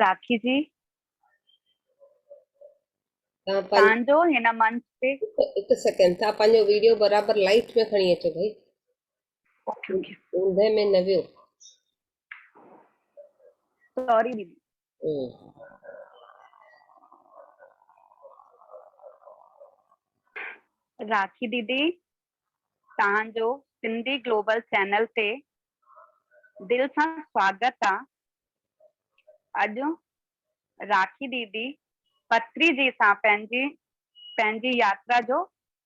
راکي جي تان جو هن منچ تي هڪ سيڪنڊ تھا پنهنجو ويڊيو برابر لائٽ ۾ کڻي اچو ڀائي اوندهه ۾ نه ويو سوري ديدي راکي ديدي توهان جو سنڌي گلوبل چينل تي دل سان سواگت آ اڄ راکي ديدي پتري جي سان پنهنجي پنهنجي ياترا جو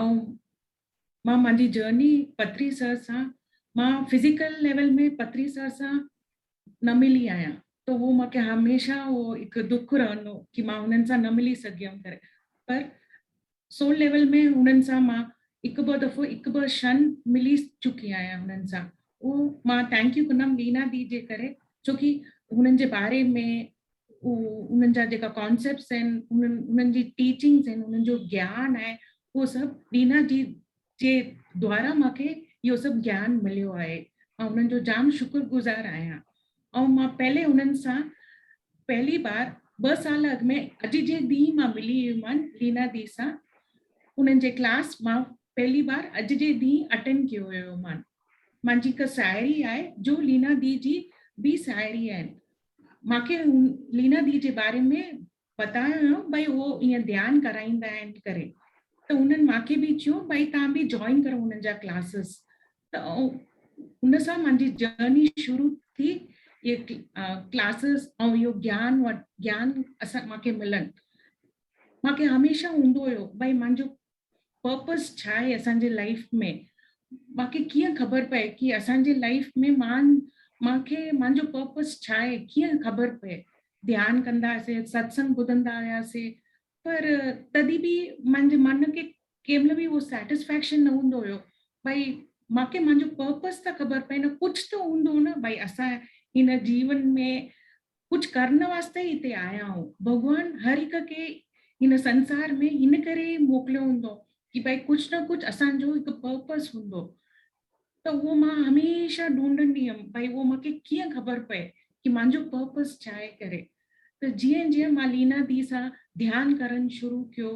۽ مان مانجي جرني پتري سر سان مان فزيڪل ليول ۾ پتري سر سان نه ملي آهيان ته هو مونکي هميشه هو هڪ دک رهندو ڪي مان هنن سان نه ملي سگهيم ڪري پر سول ليول ۾ هنن سان مان هڪ ٻه دفعو هڪ ٻه شن ملي چڪي آهيان هنن سان اهو مان ٿينڪ يو ڪندم لينا دي جي ڪري ڇو ڪي هنن جي باري ۾ انهن جا جيڪا ڪانسيپٽس آهن، انهن جي ٽيچنگس آهن، انهن جو گيان آهي، اهو سڀ ڏينا جي جي دوارا مان کي اهو سڀ گيان مليو آهي. آئون انهن جو جام شڪر گذار آهيان. آئون مان پهلي انهن سان پهلي بار ٻه سال اڳ ۾ اڄ جي ڏينهن مان ملي هئي مان لينا دي سان انهن جي ڪلاس مان پهلي بار اڄ جي ڏينهن اٽينڊ ڪيو هيو مان مانجي هڪ ساهيڙي آهي جو لينا دي جي به ساهيڙي آهن مان کي لينا دي جي باري ۾ ٻتايو هيو ڀائي هو ائين ڌيان ڪرائيندا آهن ڪري ته هنن مان کي به چيو ڀائي تان به جوائن ڪرو هنن جا ڪلاسز ته ان سان منهنجي جرني شروع ٿي اهي ڪلاسز ۽ اهو جيان جيان اسان مان کي ملن مان کي هميشه هوندو هيو ڀائي منهنجو پرپس ڇا آهي اسان جي لائيف ۾ مانکي ڪيئن خبر پئي ڪي اسان جي لائيف ۾ مان مانکي مانجو پرپس ڇا آهي ڪيئن خبر پئي ڌيان ڪندا سي ستسنگ ٻڌندا آيا سي پر تدي به مانجي من کي ڪي مل به هو سيٽسفيڪشن نه هوندو هيو ڀائي مانکي مانجو پرپس ته خبر پئي نه ڪجھ ته هوندو نه ڀائي اسان هن جيون ۾ ڪجهه ڪرڻ واسطي ئي هتي آيا آهيون. ڀڳوان هر هڪ کي هن سنسار ۾ هن ڪري ئي موڪليو هوندو ڪي ڀائي ڪجهه نه ڪجهه اسان جو هڪ پرپس هوندو ته اهو مان هميشه ڍونڍندي هيم ڀائي اهو مان کي ڪيئن خبر پئي ڪي مانجو پرپس ڇا آهي ڪري ته جيئن جيئن مان لينا دي سان ڌيان ڪرڻ شروع ڪيو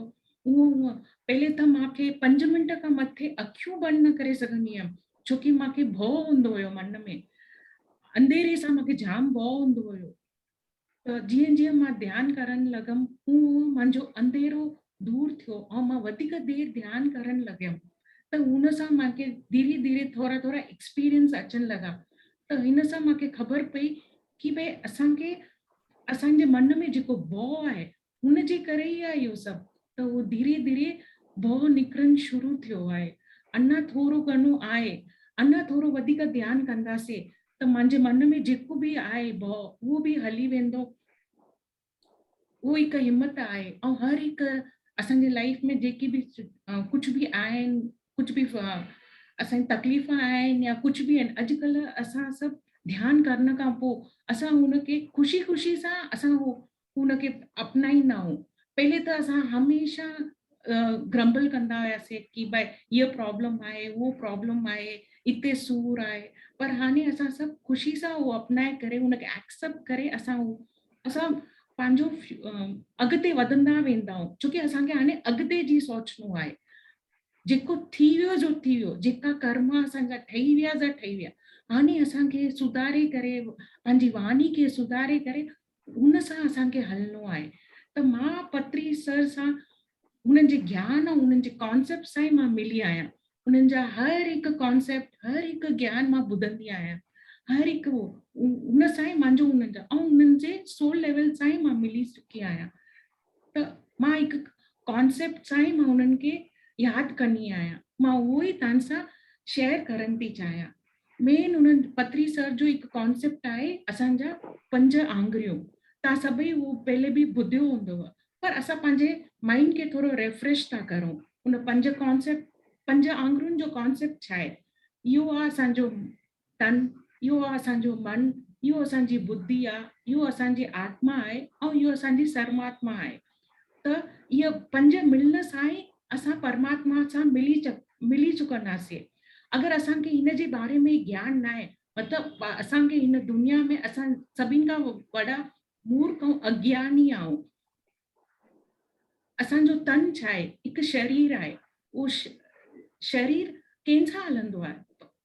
اونء اونء پهرين ته مان کي پنج منٽ کان مٿي اکيون بند نه ڪري سگهندي هيم ڇو ڪي مان کي ڀؤ هوندو هيو من ۾ انڌيري سان مان کي جام ڀؤ هوندو هيو ته جيئن جيئن مان ڌيان ڪرڻ لڳم هون هون منهنجو انڌيرو دور ٿيو ۽ مان وڌيڪ دير ڌيان ڪرڻ لڳم ته هن سان مان کي ڌيري ڌيري ٿورا ٿورا ايڪسپيرينس اچڻ لڳا ته هن سان مان کي خبر پئي ڪي ڀئي اسان کي اسان جي من ۾ جيڪو ڀؤ آهي هن جي ڪري ئي آهي اهو سڀ ته اهو ڌيري ڌيري ڀؤ نڪرڻ شروع ٿيو آهي. اڃا ٿورو گهڻو آهي، اڃا ٿورو وڌيڪ ڌيان ڪنداسين ته منهنجي من ۾ جيڪو به آهي ڀؤ اهو به هلي ويندو. اهو هڪ همت آهي ۽ هر هڪ اسان جي لائيف ۾ جيڪي به ڪجهه به آهن، ڪجهه به اسان جي تڪليف آهن يا ڪجهه به آهن اڄ ڪلهه اسان سڀ ڌيان ڪرڻ کان پوء اسان هن کي خوشي خوشي سان اسان اهو ان کي اپنائيندا آهيون پهرين ته اسان هميشه گرمبل ڪندا هياسين ڪي بھي هيء پرابلم آهي هو پرابلم آهي اتي سور آهي پر هاڻي اسان سڀ خوشي سان هو اپنائي ڪري ان کي ايڪسپٽ ڪري اسان هو اسان پنهنجو اڳتي وڌندا ويندا آهيون ڇو ڪي اسان کي هاڻي اڳتي جي سوچڻو آهي جيڪو ٿي ويو جو ٿي ويو جيڪا ڪرم اسانجا ٺهي ويا جا ٺهي ويا هاڻي اسانکي سڌاري ڪري پنهنجي واڻي کي سڌاري ڪري هن سان اسان کي هلڻو آهي ته مان پتري سر سان هنن جي گيان ۽ هنن جي ڪانسيپٽ سان ئي مان ملي آهيان هنن جا هر هڪ ڪانسيپٽ هر هڪ گيان مان ٻڌندي آهيان هر هڪ هن سان ئي مانجو هنن جا ۽ هنن جي سول ليول سان ئي مان ملي چڪي آهيان ته مان هڪ ڪانسيپٽ سان ئي مان انهن کي ياد ڪندي آهيان مان اهو ئي تان سان شيئر ڪرڻ ٿي چاهيان مين انهن پتري سر جو هڪ ڪانسيپٽ آهي اسان جا پنج آنگريون تان سڀئي اهو پهلي به ٻڌيو هوندو پر اسان پنهنجي مائنڊ کي ٿورو ريفريش ٿا ڪرون ان پنج ڪانسيپٽ پنج آنگريون جو ڪانسيپٽ ڇا آهي اهو آهي اسان جو تن، اهو آ اسان جو من، اهو اسان جي بدي آ، اهو اسان جي آتما آهي ۽ اهو اسان جي سرماتما آهي ته اهي پنج ملڻ سان ئي اسان پرماتما سان ملي ملي چڪنداسي اگر اسان کي هن جي باري ۾ گيان ناهي مطلب اسان کي هن دنيا ۾ اسان سڀين کان وڏا مورک ۽ اگياني آهون اسان جو تن ڇا آهي؟ هڪ شرير آهي. اهو شرير ڪنهن سان هلندو آهي؟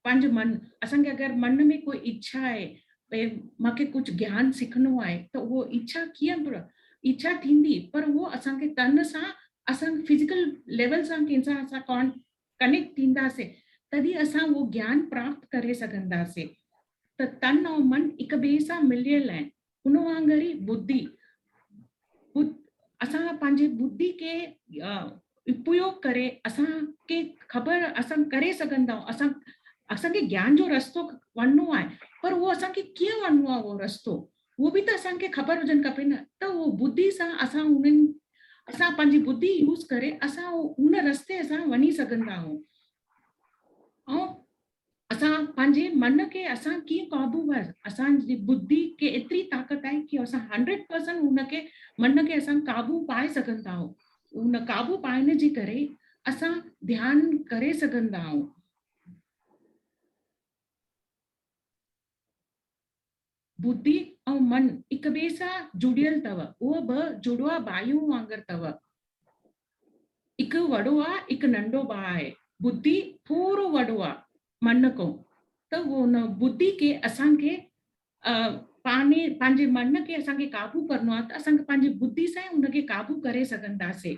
پنهنجو من. اسان کي اگر من ۾ ڪو اڇا آهي، ڀي مان کي ڪجهه گيان سکڻو آهي ته اهو اڇا ڪيئن به اڇا ٿيندي پر اهو اسان کي تن سان اسان فزيڪل ليول سان ڪنهن سان اسان ڪان ڪنيڪٽ ٿينداسين تڏهن اسان اهو گيان پراپت ڪري سگهنداسين ته تن ۽ من هڪ ٻئي سان مليل آهن ان وانگر ئي ٻڌي اسان پنهنجي ٻڌي کي اپيوگ ڪري اسان کي خبر اسان ڪري سگهن ٿا اسان اسان کي گيان جو رستو وڃڻو آهي پر اهو اسان کي ڪيئن وڃڻو آهي اهو رستو اهو به ته اسان کي خبر هجڻ کپي نه ته اهو ٻڌي سان اسان انهن اسان پنهنجي ٻڌي يوز ڪري اسان ان رستي اسان وڃي سگهن ٿا آهون اسان پنهنجي من کي اسان ڪيئن قابو ور اسان جي ٻڌي کي ايتري طاقت آهي ڪي اسان هنڊريڊ پرسنٽ ان کي من کي اسان قابو پائي سگهندا آهيون ان قابو پائڻ جي ڪري اسان ڌيان ڪري سگهندا آهيون. بودي ۽ من هڪٻئي سان جڙيل تؤ، اهو ٻه جڙواء ٻاهيون وانگر تؤ، هڪ وڙو آ، هڪ ننڍو ٻاهه آهي، بودي ٿورو وڙو آ من کان، ته ان بودي کي اسان کي پاڻي پنهنجي من کي اسان کي قابو ڪرڻو آ، ته اسان کي پنهنجي بودي سان ئي ان کي قابو ڪري سگهنداسين.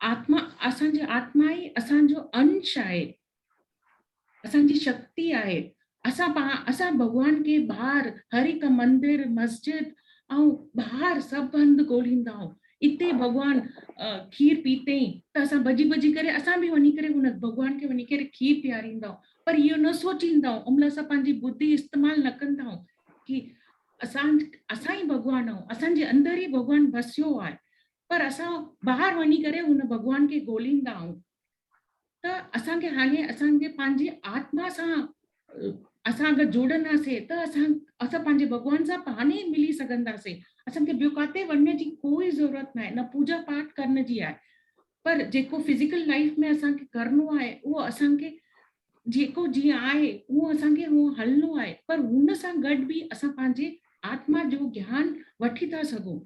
آتما اسان جي آتما ئي اسان جو انش آهي اسان جي شڪتي آهي اسان اسان ڀڳوان کي ٻاهر هر هڪ مندر مسجد ۽ ٻاهر سڀ هنڌ ڳوليندا آهيون اتي ڀڳوان کير پيتئي ته اسان ڀڄي ڀڄي ڪري اسان به وڃي ڪري هن ڀڳوان کي وڃي ڪري کير پياريندا آهيون پر اهو نه سوچيندا آهيون ان مهل اسان پنهنجي ٻڌي استعمال نه ڪندا آهيون ڪي اسان اسان ئي ڀڳوان آهيون اسان جي اندر ئي ڀڳوان وسيو آهي پر اسان ٻاهر وڃي ڪري ان ڀڳوان کي ڳوليندا آهيون ته اسان کي هاڻي اسان جي پنهنجي آتما سان اسان اگر جوڙنداسين ته اسان اسان پنهنجي ڀڳوان سان پاڻ ئي ملي سگهنداسين اسان کي ٻيو ڪاتي وڃڻ جي ڪوئي ضرورت ناهي نه پوڄا پاٺ ڪرڻ جي آهي پر جيڪو فزيڪل لائف ۾ اسان کي ڪرڻو آهي اهو اسان کي جيڪو جيئن آهي اهو اسان کي هو هلڻو آهي پر هن سان گڏ به اسان پنهنجي آتما جو گيان وٺي ٿا سگهون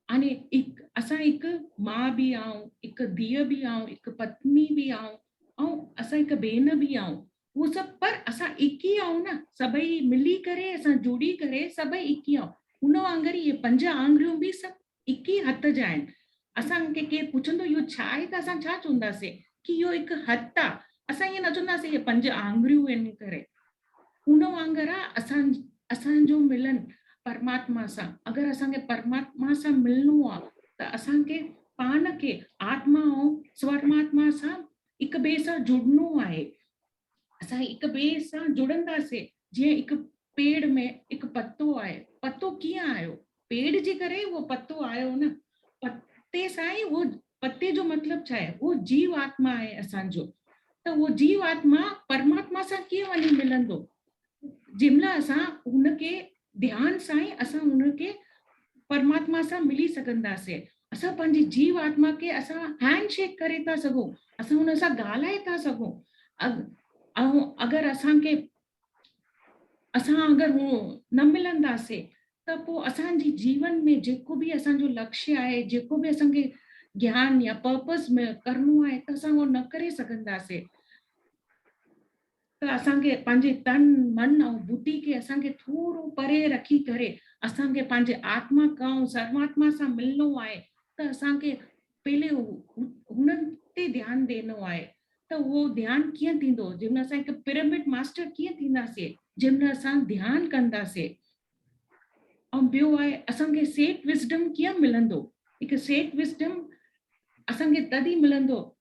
يعني هڪ اسان هڪ ماء به آهيون هڪ ڌيء به آهيون هڪ پتني به آهيون ۽ اسان هڪ ڀين به آهيون هو سڀ پر اسان هڪ ئي آهيون نه سڀئي ملي ڪري اسان جڙي ڪري سڀئي هڪ ئي آهيون ان وانگر هي پنج آڱريون به سڀ هڪ ئي هٿ جا آهن اسان کي ڪير پڇندو اهو ڇا آهي ته اسان ڇا چونداسين ڪي اهو هڪ هٿ آ اسان ائين نه چونداسين اهي پنج آڱريون ان ڪري ان وانگر آ اسان اسان جو ملن پرماتما سان اگر اسان کي پرماتما سان ملنو آ ته اسان کي پاڻ کي آتما ۽ سورماتما سان هڪ ٻئي سان جڙنو آهي اسان هڪ ٻئي سان جڙنداسين جيئن هڪ پيڙ ۾ هڪ پتو آهي، پتو ڪيئن آيو؟ پيڙ جي ڪري ئي اهو پتو آيو نه، پتي سان ئي اهو پتي جو مطلب ڇا آهي؟ اهو جيو آتما آهي اسان جو ته اهو جيو آتما پرماتما سان ڪيئن وڃي ملندو؟ جنهن مهل اسان هن کي ڌيان سان ئي اسان هن کي پرماتما سان ملي سگهنداسين. اسان پنهنجي جيو آتما کي اسان هينڊ شيڪ ڪري ٿا سگهون، اسان هن سان ڳالهائي ٿا سگهون ۽ اگر اسان کي اسان اگر نه ملنداسين ته پوء اسان جي جيون ۾ جيڪو به اسان جو لڪشي آهي، جيڪو به اسان کي گيان يا پرپز ۾ ڪرڻو آهي ته اسان اهو نه ڪري سگهنداسين. ته اسان کي پنهنجي تن، من ۽ بدي کي اسان کي ٿورو پري رکي ڪري اسان کي پنهنجي آتما ڪائون سروااتما سان ملڻو آهي ته اسان کي پهلي هنن تي ڌيان ڏينو آهي ته اهو ڌيان ڪيئن ٿيندو جنهن مهل اسان هڪ پرامڊ ماسٽر ڪيئن ٿينداسي جنهن مهل اسان ڌيان ڪنداسي ۽ ٻيو آهي اسان کي سيٽ وسڊم ڪيئن ملندو هڪ سيٽ وسڊم اسان کي تد ئي ملندو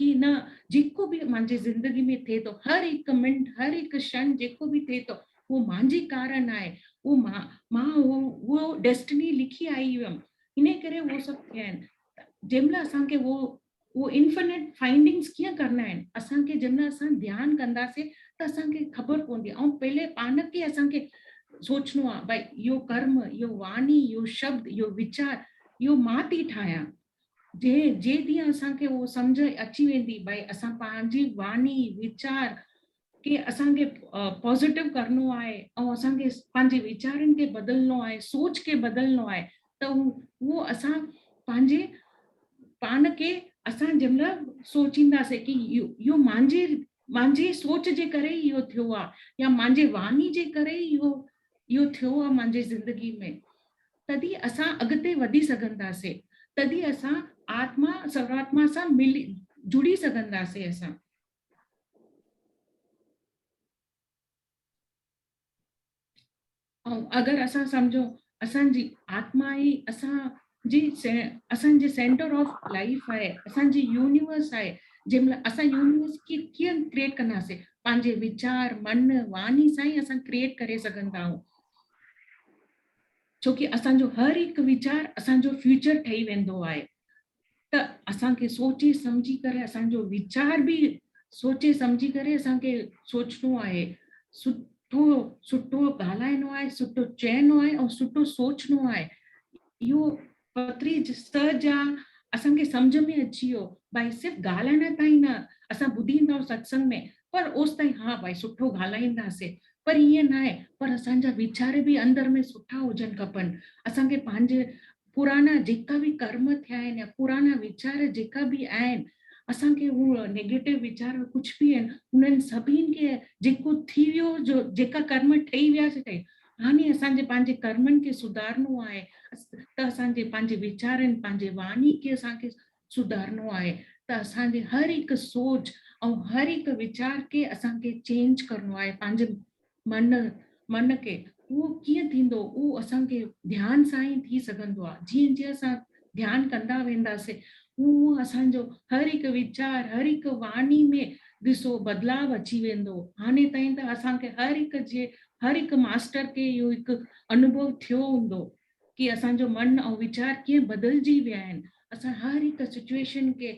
ڪي نه جيڪو به مانجي زندگي ۾ ٿئي ٿو هر هڪ منٽ هر هڪ شڻ جيڪو به ٿئي ٿو اهو مانجي ڪارڻ آهي اهو مان مان اهو اهو ڊيسٽني لکي آئي هيم انهي ڪري اهو سڀ ٿيا آهن جنهن مهل اسان کي اهو اهو انفنٽ فائنڊنگس ڪيئن ڪرڻا آهن اسان کي جنهن مهل اسان ڌيان ڪنداسين ته اسان کي خبر پوندي ۽ پهلي پان کي اسان کي سوچڻو آهي ڀائي اهو ڪرم اهو واڻي اهو شبد اهو ويچار اهو مان ٿي ٺاهيان جي جي ڏينهن اسان کي اهو سمجهه اچي ويندي ڀائي اسان پنهنجي واڻي ويچار کي اسان کي پازيٽو ڪرڻو آهي ۽ اسان کي پنهنجي ويچارن کي بدلڻو آهي سوچ کي بدلڻو آهي ته اهو اسان پنهنجي پاڻ کي اسان جنهن مهل سوچينداسي ڪي اهو مانجي مانجي سوچ جي ڪري ئي اهو ٿيو آهي يا مانجي واڻي جي ڪري ئي اهو اهو ٿيو آهي مانجي زندگي ۾ تڏھن ئي اسان اڳتي وڌي سگھنداسين، تڏھن ئي اسان آتما سرواتما سان ملي جڙي سگھنداسين اسان. ۽ اگر اسان سمجھون اسان جي آتما ئي اسان جي اسان جي سينٽر آف لائيف آھي، اسان جي يونيورس آھي، جنھن مھل اسان يونيورس کي ڪيئن ڪريئيٽ ڪنداسين، پنھنجي ويچار، من، واڻي سان ئي اسان ڪريئيٽ ڪري سگھندا آھيون. ڇو ڪي اسان جو هر هڪ ويچار اسان جو فيوچر ٺهي ويندو آهي ته اسان کي سوچي سمجهي ڪري اسان جو ويچار به سوچي سمجهي ڪري اسان کي سوچڻو آهي سٺو سٺو ڳالهائڻو آهي سٺو چئنو آهي ۽ سٺو سوچڻو آهي اهو پٿري سئ جا اسان کي سمجهه ۾ اچي ويو ڀائي صرف ڳالهائڻ تائين نه اسان ٻڌي ايندا آهيون ستسنگ ۾ پر اوس تائين ها ڀائي سٺو ڳالهائيندا سي پر ائين ناهي پر اسان جا ويچار به اندر ۾ سٺا هجن کپن اسان کي پنهنجي پرانا جيڪا به ڪرم ٿيا آهن يا پرانا ويچار جيڪا به آهن اسان کي هو نيگيٽو ويچار ڪجهه به آهن انهن سڀين کي جيڪو ٿي ويو جو جيڪا ڪرم ٺهي ويا سي ٺهي هاڻي اسان جي پنهنجي ڪرمن کي سڌارڻو آهي ته اسان جي پنهنجي ويچارن، پنهنجي واڻي کي اسان کي سڌارڻو آهي ته اسان جي هر هڪ سوچ ۽ هر هڪ ويچار کي اسان کي چينج ڪرڻو آهي پنهنجي من من کي اهو ڪيئن ٿيندو اهو اسان کي ڌيان سان ئي ٿي سگهندو آهي جيئن جيئن اسان ڌيان ڪندا وينداسين، هونء هونء اسان جو هر هڪ ويچار، هر هڪ واڻي ۾ ڏسو بدلاء اچي ويندو. هاڻي تائين ته اسان کي هر هڪ جي هر هڪ ماستر کي اهو هڪ انوڀو ٿيو هوندو ڪي اسان جو من ۽ ويچار ڪيئن بدلجي ويا آهن. اسان هر هڪ سچوئيشن کي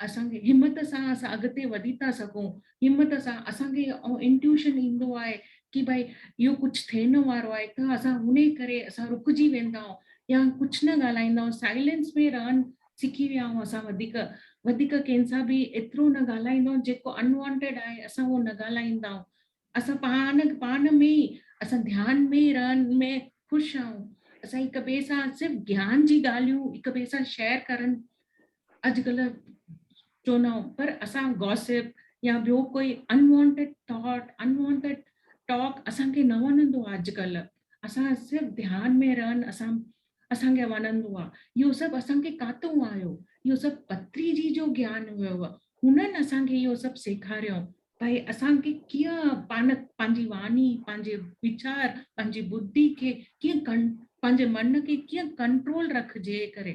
اسان کي همت سان اسان اڳتي وڌي ٿا سگهون همت سان اسان کي اهو انٽيوشن ايندو آهي ڪي ڀائي اهو ڪجهه ٿيڻ وارو آهي ته اسان انهي ڪري اسان رڪجي ويندا آهيون يا ڪجهه نه ڳالهائيندا آهيون سائلينس ۾ رهڻ سکي ويا آهيون اسان وڌيڪ وڌيڪ ڪنهن سان به ايترو نه ڳالهائيندا آهيون جيڪو انوانٽيڊ آهي اسان اهو نه ڳالهائيندا آهيون اسان پاڻ پاڻ ۾ ئي اسان ڌيان ۾ ئي رهڻ ۾ خوش آهيون اسان هڪ ٻئي سان صرف گيان جي ڳالهيون هڪ ٻئي سان شيئر ڪرڻ اڄ ڪلهه چونائون پر اسان گاسپ يا ٻيو ڪوئي انوانٽيڊ ٿاٽ انوانٽيڊ ٽاڪ اسان کي نه وڻندو آهي اڄ ڪلهه اسان صرف ڌيان ۾ رهن اسان اسان کي وڻندو آهي اهو سڀ اسان کي ڪاتو آيو اهو سڀ پتري جي جو گيان هيو هنن اسان کي اهو سڀ سيکاريو ڀائي اسان کي ڪيئن پان پنهنجي واڻي پنهنجي ويچار پنهنجي ٻڌي کي ڪيئن ڪن پنهنجي من کي ڪيئن ڪنٽرول رکجي ڪري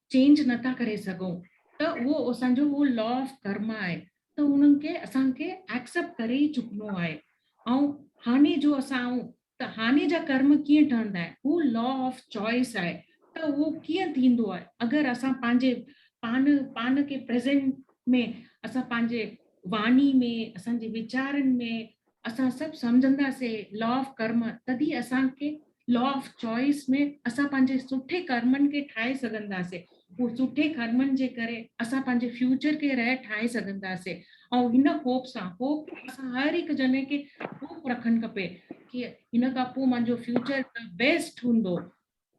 چينج نه ٿا ڪري سگهون ته اهو اسان جو اهو لا آف ڪرما آهي ته ان کي اسان کي ايڪسيپٽ ڪري ئي چڪنو آهي ۽ هاڃي جو اسان آهيون ته هاڃي جا ڪرم ڪيئن ٺهندا آهن هو لا آف چوائس آهي ته اهو ڪيئن ٿيندو آهي اگر اسان پنهنجي پان پان کي پريزينٽ ۾ اسان پنهنجي واڻي ۾ اسان جي ويچارن ۾ اسان سڀ سمجهندا سي لا آف ڪرما تدي اسان کي لا آف چوائس ۾ اسان پنهنجي سٺي ڪرمن کي ٺاهي سگهندا سي هو سٺي ڪرمن جي ڪري اسان پنهنجي فيوچر کي رهي ٺاهي سگهندا سي ۽ هن هوپ سان هوپ اسان هر هڪ جني کي هوپ رکن کپي ڪي هن کان پو منهنجو فيوچر ته بيسٽ هوندو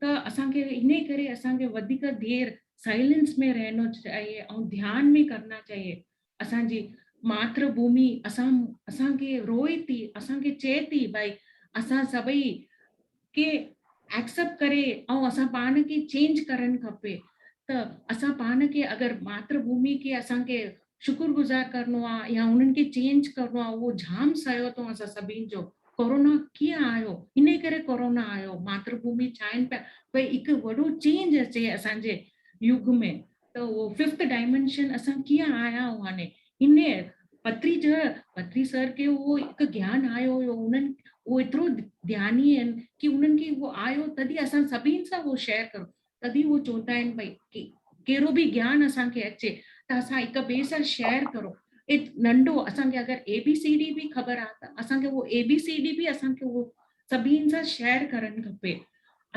ته اسان کي انهي ڪري اسان کي وڌيڪ دير سائلنس ۾ رهنو چاهيي ۽ ڌيان ۾ ڪرنا چاهيي اسان جي ماتر ڀومي اسان اسان کي روئي ٿي اسان کي چئي ٿي بھي اسان سڀئي کي ايڪسپٽ ڪري ۽ اسان پاڻ کي چينج ڪرڻ کپي ته اسان پاڻ کي اگر ماتر ڀومي کي اسان کي شڪر گذار ڪرڻو آ يا انهن کي چينج ڪرڻو آ اهو جھام سعيو اٿئون اسان سڀين جو ڪورونا ڪيئن آيو انهي ڪري ڪورونا آيو ماتر ڀومي ڇائين پيا ڀئي هڪ وڏو چينج اچي اسان جي يگ ۾ ته اهو ففٿ ڊائمينشن اسان ڪيئن آيا آهيون هاڻي انهي پتري جا پتري سر کي اهو هڪ گيان آيو هيو انهن اهو ايترو ڌياني آهن ڪي انهن کي اهو آيو تڏهن اسان سڀين سان اهو شيئر ڪرڻو تڏهن هو چوٽائين پئي ڪي ڪهڙو به گيان اسان کي اچي ته اسان هڪ ٻئي سان شيئر ڪرو ايت ننڍو اسان کي اگر اي بي سي ڊي به خبر آ ته اسان کي اهو اي بي سي ڊي به اسان کي اهو سڀين سان شيئر ڪرڻ کپي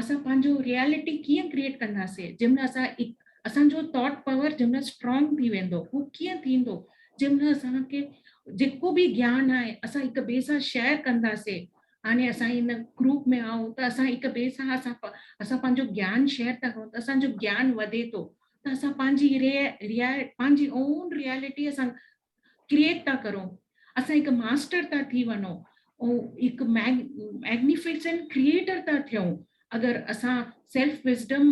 اسان پنهنجو ريئلٽي ڪيئن ڪريئيٽ ڪنداسين جنهن مهل اسان اسان جو ٿاٽ پاور جنهن مهل اسٽرانگ ٿي ويندو هو ڪيئن ٿيندو جنهن مهل اسان کي جيڪو به گيان آهي اسان هڪ ٻئي سان شيئر ڪنداسين هاڻي اسان هن گروپ ۾ آهون ته اسان هڪ ٻئي سان اسان اسان پنهنجو گيان شيئر ٿا ڪرون ته اسان جو گيان وڌي ٿو ته اسان پنهنجي پنهنجي اون ريئلٽي اسان ڪريئيٽ ٿا ڪرون اسان هڪ ماسٽر ٿا ٿي وڃون هڪ ميگنيفيسنٽ ڪريئيٽر ٿا ٿيون اگر اسان سيلف وزڊم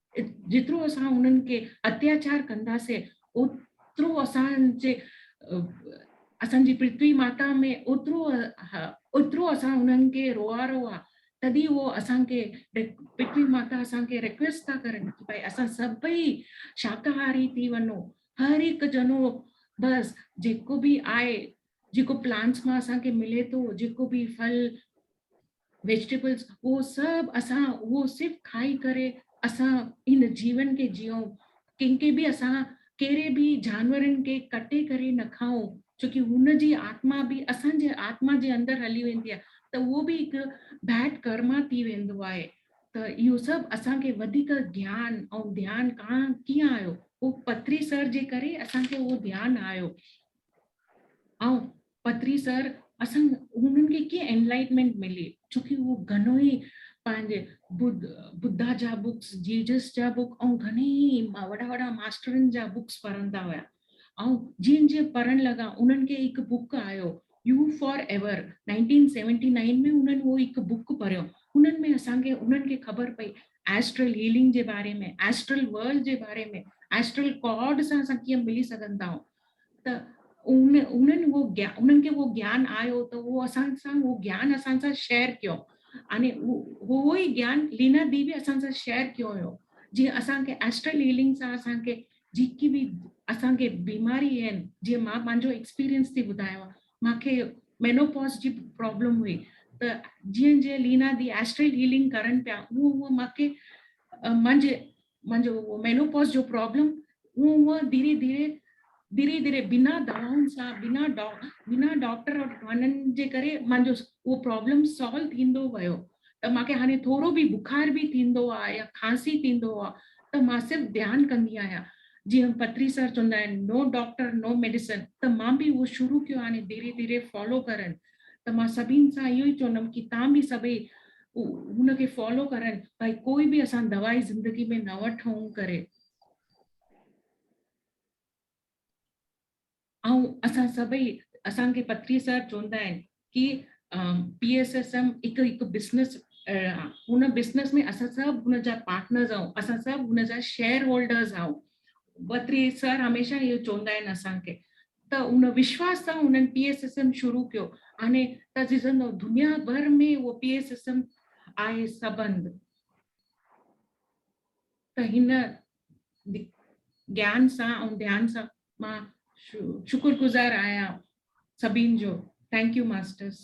جيترو اسان انهن کي اتياچار ڪنداسين اوترو اسان جي اسان جي پرٿوي ماتا ۾ اوترو اوترو اسان انهن کي روئارو آ تدي هو اسان کي پرٿوي ماتا اسان کي ريڪويسٽ ٿا ڪرن ته ڀائی اسان سڀئي شاڪاهاري ٿي وڃو هر هڪ ڄڻو بس جيڪو به آهي جيڪو پلانٽس مان اسان کي ملي ٿو جيڪو به ڦل ويجٽيبلز اهو سڀ اسان اهو صرف کائي ڪري اسان هن جيون کي جيئون ڪنهن کي به اسان ڪهڙي به جانورن کي ڪٽي ڪري نه کائون ڇوڪي هن جي آتما به اسان جي آتما جي اندر هلي ويندي آهي ته اهو به هڪ بيڊ ڪرما ٿي ويندو آهي ته اهو سڀ اسان کي وڌيڪ گيان ۽ ڌيان ڪان ڪيئن آيو اهو پٿري سر جي ڪري اسان کي اهو ڌيان آيو آئون پتري سر اسان هنن کي ڪيئن انلائٽمينٽ ملي ڇوڪي هو گهڻو ئي پنهنجي بوڌا جا بڪس جيجس جا بڪ ۽ گهڻي ئي وڏا وڏا ماسٽرن جا بڪس پڙهندا هيا ۽ جيئن جيئن پڙهڻ لڳا انهن کي هڪ بڪ آيو يو فار ايور 1979 ۾ انهن هو هڪ بڪ پڙهيو انهن ۾ اسان کي انهن کي خبر پئي ايسٽرل هيلنگ جي باري ۾ ايسٽرل ورلڊ جي باري ۾ ايسٽرل ڪارڊ سان اسان ڪيئن ملي سگهندا آهيون ته ان انهن هو گيان انهن کي هو گيان آيو ته هو اسان سان هو گيان اسان سان شيئر ڪيو يعني هو هو ئي گيان لينا دي به اسان سان شيئر ڪيو هيو جي اسان کي اسٽرل هيلنگ سان اسان کي جيڪي به اسان کي بيماري آهن جي مان پنهنجو ايڪسپيرينس ٿي ٻڌايو مان کي مينوپوز جي پرابلم هئي ته جيئن جيئن لينا دي اسٽرل هيلنگ ڪرن پيا هو هو مان کي منهنجي منهنجو اهو مينوپوز جو پرابلم اهو اهو ڌيري ڌيري ڌيري ڌيري بنا دوائن سان بنا ڊا بنا ڊاڪٽر وٽ وڃڻ جي ڪري مانجو اهو پرابلم سالو ٿيندو ويو ته مونکي هاڻي ٿورو به بخار به ٿيندو آهي يا کانسي ٿيندو آهي ته مان صرف ڌيان ڪندي آهيان جيئن پتري سر چوندا آهن نو ڊاڪٽر نو ميڊيسن ته مان به اهو شروع ڪيو هاڻي ڌيري ڌيري فالو ڪرڻ ته مان سڀين سان اهو ئي چوندم ڪي تان به سڀئي هن کي فالو ڪرن ڀائي ڪوئي به اسان دوائي زندگي ۾ نه وٺون ڪري ۽ اسان سڀئي اسان کي پتري صاحب چوندا آهن ڪي پي ايس ايس ايم هڪ هڪ بزنس هن بزنس ۾ اسان سڀ هن جا پارٽنرز آهيون اسان سڀ هن جا شيئر هولڊرز آهيون پتري سر هميشه اهو چوندا آهن اسان کي ته ان وشواس سان هنن پي ايس ايس ايم شروع ڪيو آني ته جزن دنيا ڀر ۾ اهو پي ايس ايس ايم آهي سبند ته هن جيان سان ۽ ڌيان سان مان شڪر گزار آهيان سڀين جو ٿينڪ يو ماسٽرس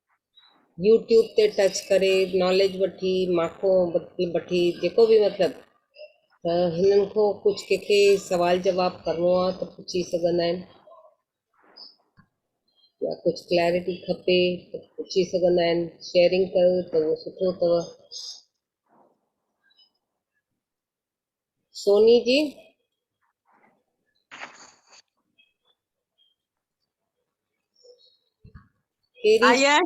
يوٽيوب تي ٽچ ڪري ناليج وٺي ماڪو مطلب وٺي جيڪو بي مطلب ته هنن کي ڪجھ ڪنهن کي سوال جواب ڪرڻو آ ته پڇي سگهندا آهن يا ڪجھ ڪليئرٽي کپي ته پڇي سگهندا آهن شيئرنگ ڪيو ته اهو سٺو اٿو سوني جي آئي آهي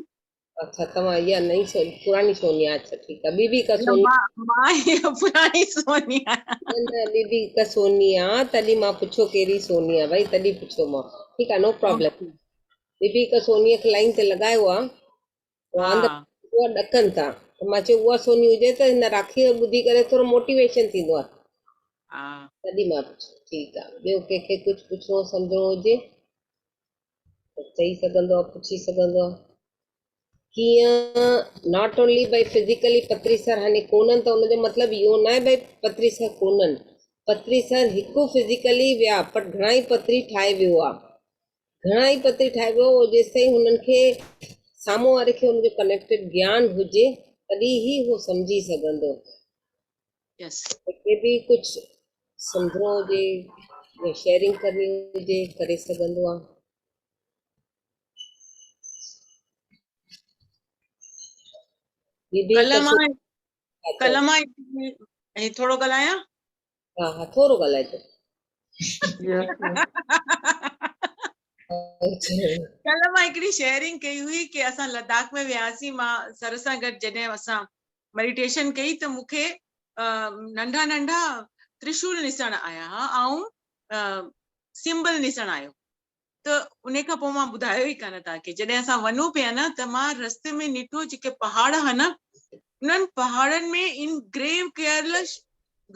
اچھا توهان اها نئي سوني پراڻي سوني اچھا ٺيڪ آهي بيبي ڪا سوني مان پراڻي سوني آهيان نه بيبي ڪا سوني آ تڏي مان پڇو ڪهڙي سوني آ ڀائی تڏي پڇو مان ٺيڪ آ نو پرابلم بيبي ڪا سوني کي لائن تي لڳايو آ واند ها. اها ڏڪن ٿا ته مان چيو اها سوني هجي ته هن راکي کي ٻڌي ڪري ٿورو موٽيويشن ٿيندو آهي. ها. تڏهن مان پڇيو ٺيڪ آهي ٻيو ڪنهن کي ڪجهه پڇڻو سمجهڻو هجي ته چئي سگهندو آهي پڇي سگهندو آهي ڪيئن ناٽ اونلي بھي فزيڪلي پتري سر هني ڪونن ته ان جو مطلب اهو ناهي بھي پتري سر ڪونن پتري سر هڪ فزيڪلي ويا پر گھڻائي پتري ٺاهي ويو آهي گهڻا ئي پتي ٺاهبو هو جيستائين هنن کي سامهون واري کي ان جو ڪنيڪٽيڊ گيان هجي تڏهن ئي هو سمجهي سگهندو يس کي به ڪجهه سمجهڻو هجي يا شيئرنگ ڪرڻي هجي ڪري سگهندو آ ڪلهه مان ڪلهه مان ٿورو ڳالهايان ها ها ٿورو ڳالهائجو ڪلهه مان هڪڙي شيئرنگ ڪئي هئي ڪي اسان لداخ ۾ وياسين مان سر سان گڏ جڏهن اسان ميڊيٽيشن ڪئي ته مون کي ننڍا ننڍا ترشول نسڻ آيا ها ۽ سمبل نسڻ آيو ته انهي کان پوء مان ٻڌايو ئي ڪانه توهان کي جڏهن اسان وڃون پيا نه ته مان رستي ۾ نيٺو جيڪي پهاڙ ها نه انهن پهاڙن ۾ ان گريو ڪيل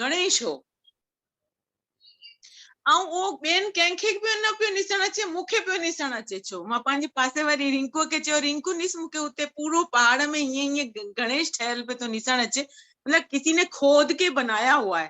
گڻيش هو ۽ اهو ٻين ڪنهن کي به نه پيو نسڻ اچي مون کي پيو نسڻ اچي ڇو مان پنهنجي پاسي واري رنڪو کي چيو رنڪو نس مون کي اتي پورو پهاڙ ۾ ائين ائين گڻيش ٺهيل پيو ٿو نسڻ اچي مطلب کسي نه کود کي بنايا هوا آهي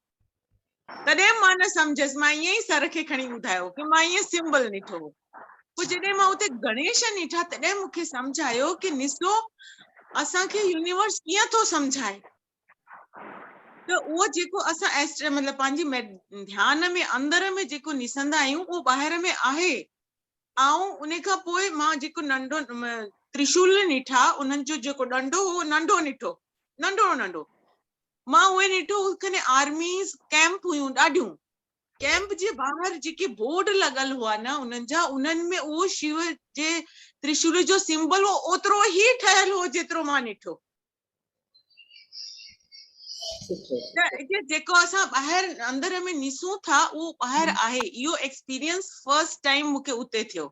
تڏهن مان نه سمجهيس مان ائين ئي سر کي کڻي ٻڌايو ڪي مان ائين سمبل نيٺو هو پوء جڏهن مان اتي گڻيش نيٺا تڏهن مون کي سمجهه آيو ڪي نسو اسان کي يونيورس ڪيئن ٿو سمجهائي ته اهو جيڪو اسان ايسٽر مطلب پنهنجي ڌيان ۾ اندر ۾ جيڪو نسندا آهيون اهو ٻاهر ۾ آهي آئون ان کان پوء مان جيڪو ننڍو ترشول نيٺا انهن جو جيڪو ڏنڊو هو ننڍو نيٺو ننڍو ننڍو مان اهي ڏٺو هو کني آرميز ڪئمپ هيون ڏاڍيون ڪئمپ جي ٻاهر جيڪي بورڊ لڳل هئا نه انهن جا انهن ۾ اهو شيو جي ترشول جو سمبل هو اوترو هي ٺهيل هو جيترو مان ڏٺو جيڪو اسان ٻاهر اندر ۾ نسون ٿا اهو ٻاهر آهي اهو ايڪسپيرينس فرسٽ ٽائيم مونکي اتي ٿيو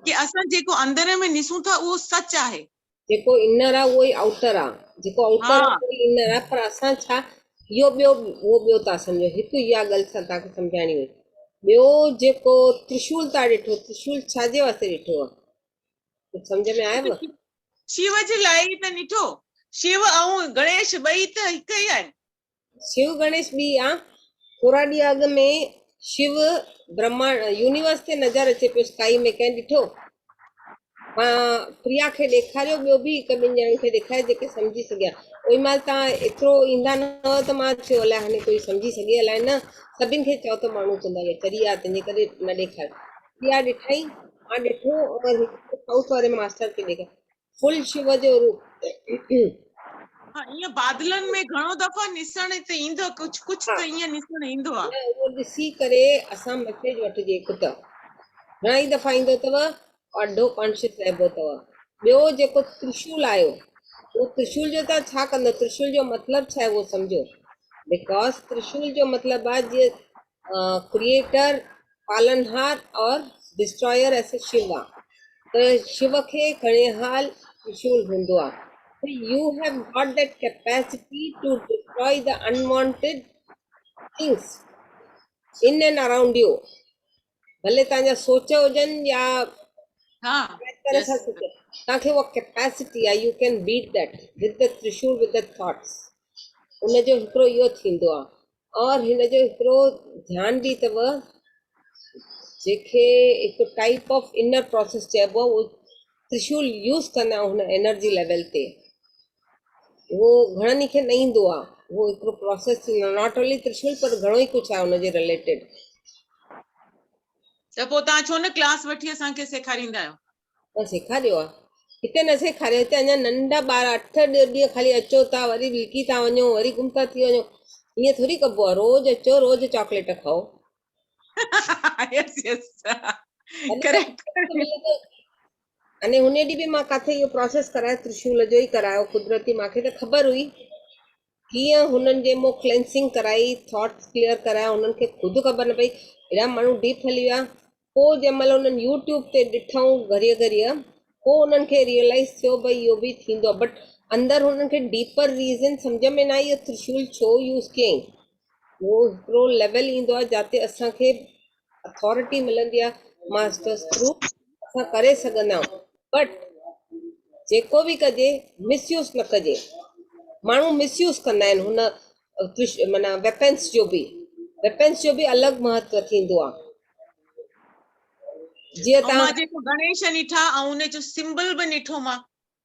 ڪي اسان جيڪو اندر ۾ نسون ٿا اهو سچ آهي. جيڪو انر آ اهو ئي آئوٽر آ. جيڪو آئوٽر آ اهو ئي انر آ پر اسان ڇا اهو ٻيو اهو ٻيو ٿا سمجهون هڪ اها ڳل سان توهان کي سمجهائڻي هئي ٻيو جيڪو ترشول تان ڏٺو ترشول ڇا جي واسطي ڏٺو آ ڪجهه سمجهه ۾ آيو شيو جي لاء ئي ته ڏٺو شيو ۽ گڻيش ٻئي ته هڪ ئي آهن شو گڻيش ٻي آ. ٿورا ڏينهن اڳ ۾ شو برهماڻ يونيورس تي نظر اچي پيو اسڪائي ۾ ڪنهن ڏٺو؟ مان پريا کي ڏيکاريو ٻيو به هڪ ٻن ڄڻن کي ڏيکاري جيڪي سمجهي سگهيا اوئي مهل تان ايترو ايندا نه هئو ته مان ٿيو الائي هاڻي ڪوئي سمجهي سگهي الائي نه سڀن کي چئو ته ماڻهو چوندا هيا چري آ تنهنجي ڪري نه ڏيکاريو پريا ڏٺائين مان ڏٺو ۽ هڪ سائوٿ واري ماستر کي ڏيکاريو فل شو جو روپ. ايئن بادلن ۾ گهڻو دفعا نسڻ ته ايندو آهي ڪجهه ڪجهه ته ايئن نسڻ ايندو آهي. نه اهو ڏسي ڪري اسان مسيج وٺجي ڪته گهڻائي دفعا ايندو اٿو آڍو ڪانشيس رهبو اٿو ٻيو جيڪو ترشول آيو اهو ترشول جو تان ڇا ڪندو ترشول جو مطلب ڇا آهي اهو سمجهو بيڪاز ترشول جو مطلب آهي جي ڪريئيٽر، پالڻهار اور ڊسٽرائر ايس شيو آ ته شيو کي کڻيهال ترشول هوندو آ ته you have got that capacity to destroy the unwanted things in and around you ڀلي توهان جا سوچ هجن يا طرح سان سوچ توهان کي اها ڪيپيسٽي آ you can beat that with the ترشول with the thoughts ان جو هڪڙو اهو ٿيندو آ اور هن جو هڪڙو ڌيان به اٿو جنهن کي هڪ ٽائپ آف انر پروسيس چئبو آهي ترشول يوز ڪندا آهيون هن انرجي ليول تي اهو گهڻن کي نه ايندو آهي اهو هڪڙو پروسيس ٿيندو آهي ناٽ اونلي ترشول پر گهڻو ئي ڪجهه آهي ان جي رليٽيڊ ته پوء توهان ڇو نه ڪلاس وٺي اسان کي سيکاريندا آهيو ته سيکاريو آ هتي نه سيکاريو هتي اڃا ننڍا ٻار اٺ ڏه ڏينهن خالي اچو ٿا وري لڪي ٿا وڃو وري گم ٿا ٿي وڃو ائين ٿوري ڪبو آ روز اچو روز چاڪليٽ کائو يس يس ڪريڪٽ اني هن ڏي به مان ڪاٿي اهو پروسيس ڪرايو ترشول جو ئي ڪرايو قدرتي ماکي ته خبر هئي ڪيئن هنن جي مون ڪلينسنگ ڪرائي ٿاٽس ڪليئر ڪرايا هنن کي خود خبر نه پئي اهڙا ماڻهو ڊيپ هلي ويا پوء جنهن مهل انهن يوٽيوب تي ڏٺائون گهريء گهريء پوء انهن کي ريئلائز ٿيو ڀئي اهو به ٿيندو آهي بٽ اندر هنن کي ڊيپر ريزن سمجهه ۾ نه آئي اهو ترشول ڇو يوز ڪيائين اهو هڪڙو ليول ايندو آهي جاتي اسان کي اٿارٽي ملندي آ ماسٽرس ٿرو اسان ڪري سگهندا آهيون بٽ جيڪو به ڪجي مس يوز نه ڪجي ماڻهو مس يوز ڪندا آهن هن معنيٰ ويپنس جو به ويپنس جو به الڳ مهتو ٿيندو آ جيئن تان مان جيڪو گڻيش نٺا ۽ ان جو سمبل به نٺو مان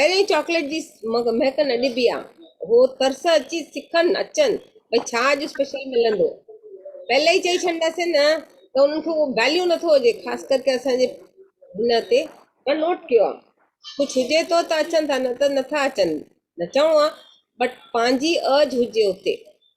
پهرين چاڪليٽ جي مهڪ نه ڏبي آ هو ترس اچي سکن اچن ڀئي ڇا اڄ اسپيشل ملندو پهلي ئي چئي ڇڏنداسين نه ته انهن کي اهو ويليو نٿو هجي خاص ڪر ڪي اسان جي هن تي مان نوٽ ڪيو آ ڪجھ هجي ٿو ته اچن ٿا نه ته نٿا اچن نه چئون آ بٽ پنهنجي ارج هجي اتي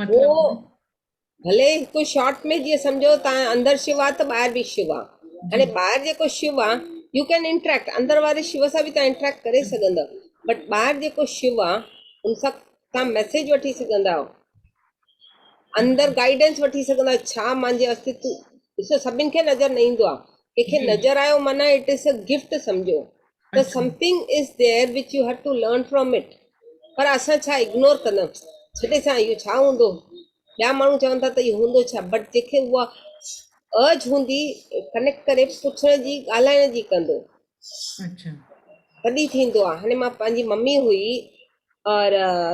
مطلب هو ڀلي هڪ شارٽ ۾ جيئن سمجهو تان اندر شو آ ته ٻاهر به شو آ هاڻي ٻاهر جيڪو شو آ يو ڪين انٽريڪٽ اندر واري شو سان به تان انٽريڪٽ ڪري سگهندا بٽ ٻاهر جيڪو شو آ ان سان تان ميسج وٺي سگهندا اندر گائيڊنس وٺي سگهندا ڇا مانجي استتو ڏسو سڀن کي نظر نه ايندو آ ڪنهن کي نظر آيو معنيٰ اٽ از ا گفٽ سمجهو ته something is there which you have to learn from it پر اسان ڇا اگنور ڪندا ڇڏي سان اهو ڇا هوندو ٻيا ماڻهو چون ٿا ته اهو هوندو ڇا بٽ جنهن کي اها ارج هوندي ڪنيڪٽ ڪري پڇڻ جي ڳالهائڻ جي ڪندو اچھا تڏي ٿيندو آ هاڻي مان پنهنجي ممي هئي اور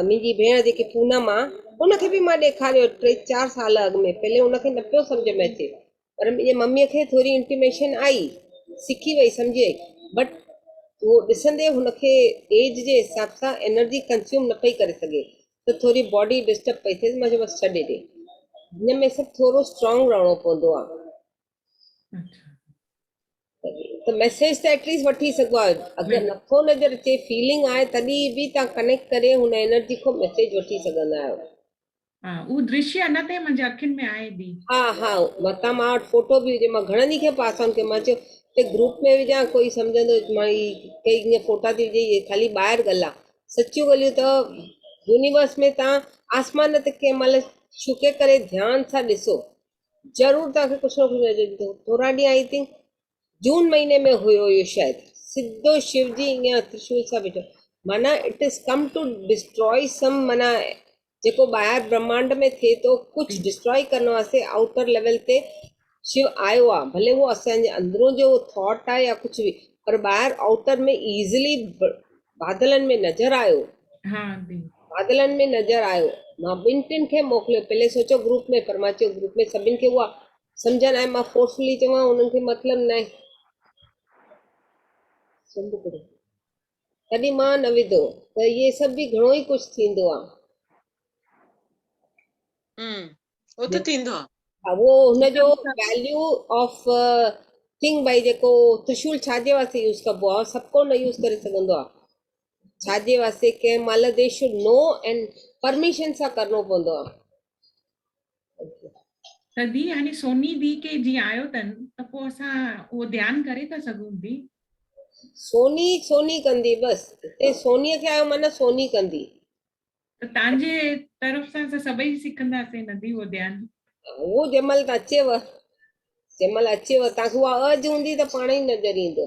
منهنجي ڀيڻ جيڪي پونم آ ان کي به مان ڏيکاريو ٽي چار سال اڳ ۾ پهلي ان کي نه پيو سمجھ ۾ اچي پر منهنجي مميء کي ٿوري انٽيميشن آئي، سکي وئي سمجهي، بٽ اهو ڏسندي هن کي ايج جي حساب سان انرجي ڪنزيوم نه پئي ڪري سگهي ته ٿوري باڊي ڊسٽرب پئي ٿيس، مان چيو بس ڇڏي ڏي هن ۾ سڀ ٿورو اسٽرانگ رهڻو پوندو آ ته ميسيج ته ايٽليسٽ وٺي سگهبو آ اگر نٿو نظر اچي فيلنگ آهي تڏهن به تهان ڪنيڪٽ ڪري هن انرجي کان ميسيج وٺي سگهندا آهيو. ها اهو درشي اڃا تائين منهنجي اکين ۾ آهي بي. ها ها متان مان وٽ فوٽو به هجي مان گهڻن ئي کي پاسان ٿيو مان چيو ته گروپ ۾ وجهان ڪوئي سمجهندو مان هي ڪئي هيئن فوٽا ٿي وجهي هي خالي ٻاهر ڳلا سچيون ڳليون ته يونيورس ۾ توهان آسمان تي ڪنهن مهل شڪي ڪري ڌيان سان ڏسو ضرور توهان کي ڪجهه نه ڪجهه نظر ايندو ٿورا ڏينهن آئي ٿنڪ جون مهيني ۾ هيو اهو شايد سڌو شو جي اڳيان ترشول سان ويٺو معنيٰ it is come to destroy some معنيٰ جيڪو ٻاهر برهمانڊ ۾ ٿئي ٿو ڪجهه ڊسٽراء ڪرڻ واسطي آئوٽر ليول تي شو آيو آهي ڀلي اهو اسان جي اندرون جو ٿاٽ آهي يا ڪجهه به پر ٻاهر آئوٽر ۾ ايزلي بادلن ۾ نظر آيو ها آنٽي بادلن ۾ نظر آيو مان ٻن ٽن کي موڪليو پهلي سوچيو گروپ ۾ پر مان چيو گروپ ۾ سڀن کي اها سمجهن ۽ مان فورسفلي چوان انهن کي مطلب نه سنڌ ڪڙي تڏهن مان نه وڌو ته اهي سڀ به گهڻو ئي ڪجهه ٿيندو آ اهو ته ٿيندو آ اهو هن جو ويليو آف ٿنگ بھائی جيڪو ترشول ڇا جي واسطي يوز ڪبو آ سڀ ڪو نه يوز ڪري سگهندو آ ڇا جي واسطي ڪنهن مهل they should know and permission سان ڪرڻو پوندو آ سدي يعني سوني دي کي جي آيو تن ته پو اسان اهو ڌيان ڪري ٿا سگهون دي سوني سوني ڪندي بس اتي سوني کي آيو معنی سوني ڪندي ته تانجي طرف سان اسان سڀئي سکندا سي ندي اهو ڌيان هو جمل ته اچيو جمل اچيو تانکي اها اج هوندي ته پاڻ ئي نظر ايندو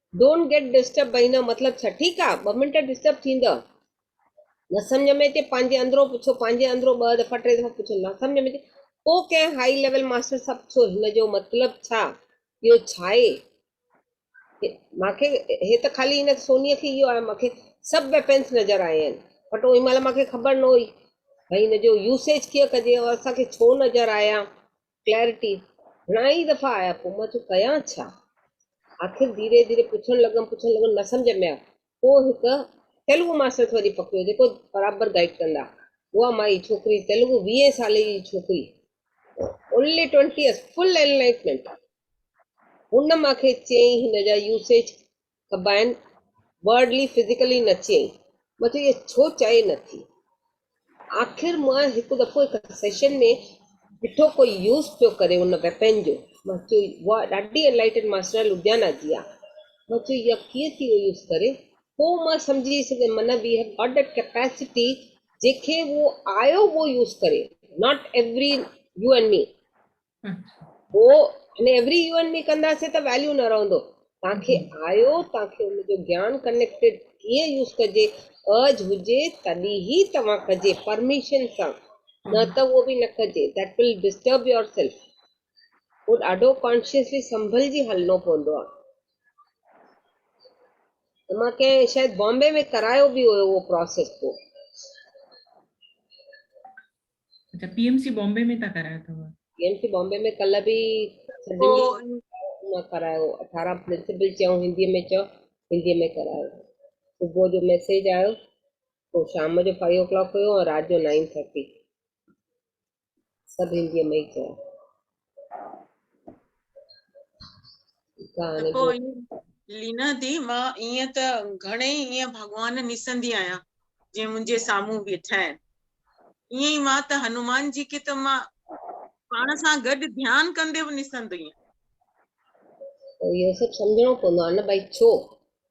Don't get disturbed بئي نه مطلب ڇا ٺيڪ آ ٻه منٽ ڊسٽرب ٿيندء نه سمجهه ۾ اچي پنهنجي اندرو پڇو پنهنجي اندرو ٻه دفعا ٽي دفعا پڇو نه سمجهه ۾ اچي پو ڪنهن هائي ليول ماسٽر سان پڇو هن جو مطلب ڇا اهو ڇاهي مان کي هي ته خالي هن سوني کي اهو آهي مان کي سڀ ويپنس نظر آيا آهن بٽ اوهين مهل مان کي خبر نه هئي ڀئي هن جو يوسيج ڪيئن ڪجي اور اسان کي ڇو نظر آيا ڪليئرٽي، گهڻائي دفعا آيا پوء مان چيو ڪيان ڇا؟ آخر ڌيري ڌيري پڇڻ لڳم پڇڻ لڳم نه سمجهه ۾ آيو پوء هڪ تيلگو ماستر کي وڃي پڪڙيو جيڪو برابر گائيڊ ڪندا هئا مائي ڇوڪري تيلگو ويهين سالي جي ڇوڪري only twenty years full enlightenment هن مانکي چيائين هن جا يوسيج کٻائين Wordly Physically نه چيئي مان چيو اهي ڇو چئي نه ٿي آخر مان هڪ دفعو هڪ سيشن ۾ ڏٺو ڪو يوز پيو ڪري ان ويپن جو مان چيو واء ڏاڍي انلائيٽن ماسٽر لڌيانا جي آ مان چيو يا ڪيئن ٿي اهو يوز ڪري پو مان سمجهي سگهي من we have got that capacity جي کي اهو آيو اهو يوز ڪري not every you and me who in every يوئن ۾ ڪنداسين ته ويليو نه رهندو تان کي آيو تان کي ان جو گيان ڪنيڪٽيڊ ڪيئن يوز ڪجي ارج هجي تڏي هي توهان ڪجي پرميشن سان نه ته هو به نه ڪجي that will disturb yourself هو ڏاڍو ڪانشيسلي سنڀلجي هلنو پوندو آ ته مان ڪنهن شايد بامبي ۾ ڪرايو به هيو اهو پروسيس پوء اچا پي ايم سي بامبي ۾ تان ڪرايو اٿو. پي ايم سي بامبي ۾ ڪلهه به سڀني مان ڪرايو اٺارهن پرنسپل چيائون هندي ۾ چئو هندي ۾ ڪرايو صبح جو ميسيج آيو پوء شام جو فائيو ڪلاڪ هيو ۽ رات جو نائين ٿرٽي سڀ هندي ۾ ئي چيا. ته پوء لينا دي مان ائين ته گهڻي ئي ائين ڀڳوان نيسندي آهيان جيئن منهنجي سامهون بيٺا آهن ائين ئي مان ته هنومان جي کي ته مان پاڻ سان گڏ ڌيان ڪندي به نيسندو آهيان اهو سڀ سمجهڻو پوندو آهي نه ڀائي ڇو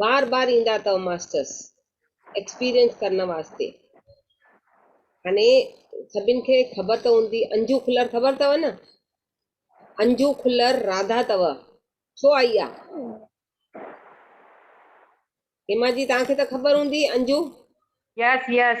بار بار ايندا اتو ماسٽرس ايڪسپيرينس ڪرڻ واسطي هاڻي سڀين کي خبر ته هوندي انجو کلر خبر اتو نه انجو کلر راڌا اتو ڇو آئي آ هيما جي توهان کي ته خبر هوندي انجو. يس يس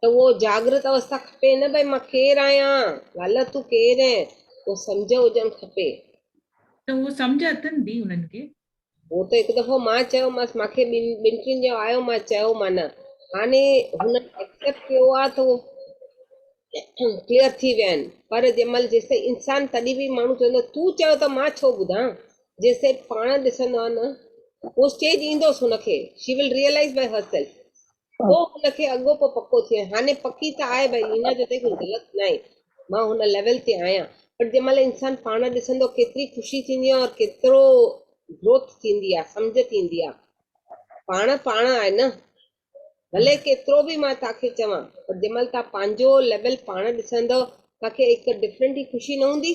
ته اهو جاگرت اوستا کپي نه ڀئي مان ڪير آهيان لالا تون ڪير اهين اهو سمجهه هجڻ کپي. ته اهو سمجهه اٿن به انهن کي. هو ته هڪ دفعو مان چيومانس مان کي ٻن ٻن ٽن ڄڻو آيو مان چيو مان هاڻي هنن ايڪسيپٽ ڪيو آهي ته اهو ڪليئر ٿي ويا آهن پر جنهن مهل جيستائين انسان تڏهن به ماڻهو چوندو تون چيو ته مان ڇو ٻڌان. جيسين پاڻ ڏسندو آ نه اهو اسٽيج ايندوس هن کي she will realise by herself پوء هن کي اڳو پوء پڪو ٿئي هاڻي پڪي ته آهي بائي لينا جو ته ڪجهه غلط نه آهي مان هن ليول تي آهيان بٽ جنهن مهل انسان پاڻ ڏسندو ڪيتري خوشي ٿيندي آهي اور ڪيترو گروٿ ٿيندي آهي سمجهه ٿيندي آهي پاڻ پاڻ آهي نه ڀلي ڪيترو به مان توهان کي چوان بٽ جنهن مهل توهان پنهنجو ليول پاڻ ڏسندو توهان کي هڪ ڊفرنٽ ئي خوشي نه هوندي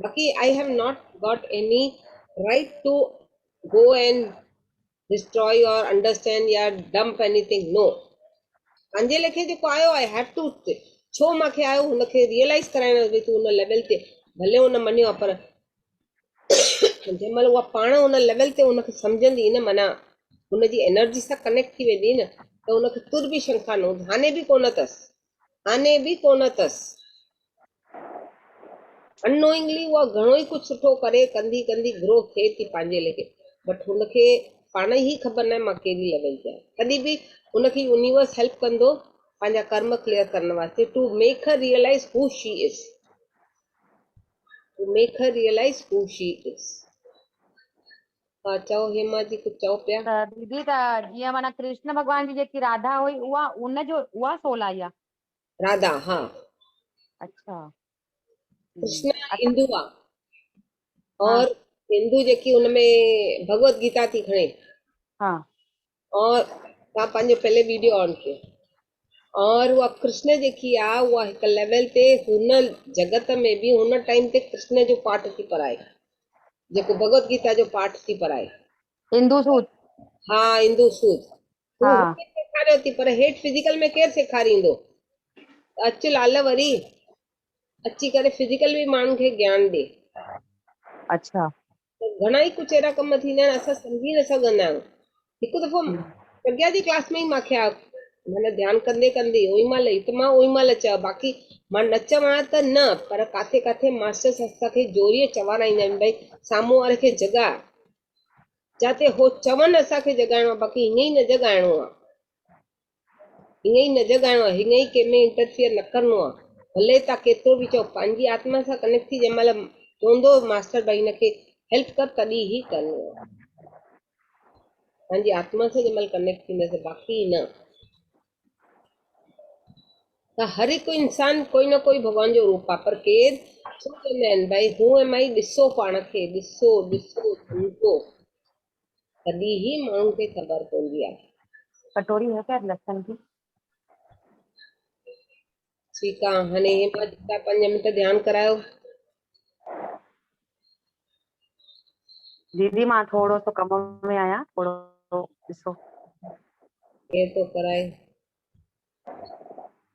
باقي I have not got any right to go and destroy or understand يا ڊمپ ايني ٿنگ نو پنهنجي ليکي جيڪو آيو آئي هيو ٽو ڇو مان کي آيو هن کي ريئلائز ڪرائڻ ڀي تون هن ليول تي ڀلي هن مڃيو پر جنهن مهل اها پاڻ ان ليول تي ان کي سمجهندي نه معنيٰ ان جي انرجي سان ڪنيڪٽ ٿي ويندي نه ته ان کي تر به شنکا نه هوندي هاڻي به ڪونه اٿس آني به ڪونه اٿس. Unknowingly اها گهڻو ئي ڪجهه سٺو ڪري ڪندي ڪندي گروهه کي ٿي پنهنجي ليکي بٽ هن کي پاڻ ئي هي خبر ناهي مان ڪهڙي ليول تي آهيان تڏهن به هن کي يونيورس هيلپ ڪندو پنهنجا ڪرم ڪليئر ڪرڻ واسطي to make her realise who she is to make her realise who she is. ها چئو هيما جي ڪجهه چئو پيا. ته ديدي ته جيئن معنيٰ ڪرشن ڀڳوان جي جيڪي راڌا هئي اها ان جو اها سولائي آ. راڌا ها. اڇا. ڪرشنا هندو آ اور هندو جيڪي ان ۾ ڀڳوت گيتا ٿي کڻي. ها. اور تان پنهنجو پهلي ويڊيو آن ڪيو اور اها ڪرشن جيڪي آ اها هڪ ليول تي هن جگت ۾ به هن ٽائيم تي ڪرشن جو پاٺ ٿي پڙهائي جيڪو ڀڳوت گيتا جو پاٺ ٿي پڙهائي اندو سود ها اندو سود هو ها هتي سيکاريو ٿي پر هيٺ فزيڪل ۾ ڪير سيکاريندو ته اچ لال وري اچي ڪري فزيڪل به ماڻهن کي گيان ڏي اڇا ته گهڻا ئي ڪچ اهڙا ڪم ٿيندا آهن اسان سمجهي نه سگهندا آهيون هڪ دفعو پرگيا جي ڪلاس ۾ ئي مانکي آ معنيٰ ڌيان ڪندي ڪندي اوهين مال هت مان اوهين مال چيو باقي مان نه چوان ته نه پر ڪاٿي ڪاٿي ماسٽرس اسان کي زوريء چوارائيندا آهن ڀئي سامهون واري کي جڳاء جاتي هو چون اسان کي جڳائڻو آهي باقي هيئن ئي نه جڳائڻو آهي ائين ئي نه جڳائڻو آهي، ائين ئي ڪنهن ۾ انٽرفيئر نه ڪرڻو آهي، ڀلي تان ڪيترو به چئو، پنهنجي آتما سان ڪنيڪٽ ٿي جنهن مهل چوندو ماستر ڀائي هن کي هيلپ ڪر تڏهن هي ڪرڻو آهي، پنهنجي آتما سان جنهن مهل ڪنيڪٽ ٿينداسين باقي نه ته هر هڪ انسان ڪوئي نه ڪوئي ڀڳوان جو روپ آهي پر ڪير ڇو چوندا آهن ڀائي هو ايم آئي ڏسو پاڻ کي ڏسو ڏسو سمجهو تڏهن هي ماڻهن کي خبر پوندي آهي. ڪٽوري هي خير لسن ڪي. ٺيڪ آ هاڻي هي مان جيڪا پنج منٽ ڌيان ڪرايو. ديدي مان ٿورو سو ڪم ۾ آهيان ٿورو ڏسو. ڪير ٿو ڪرائي.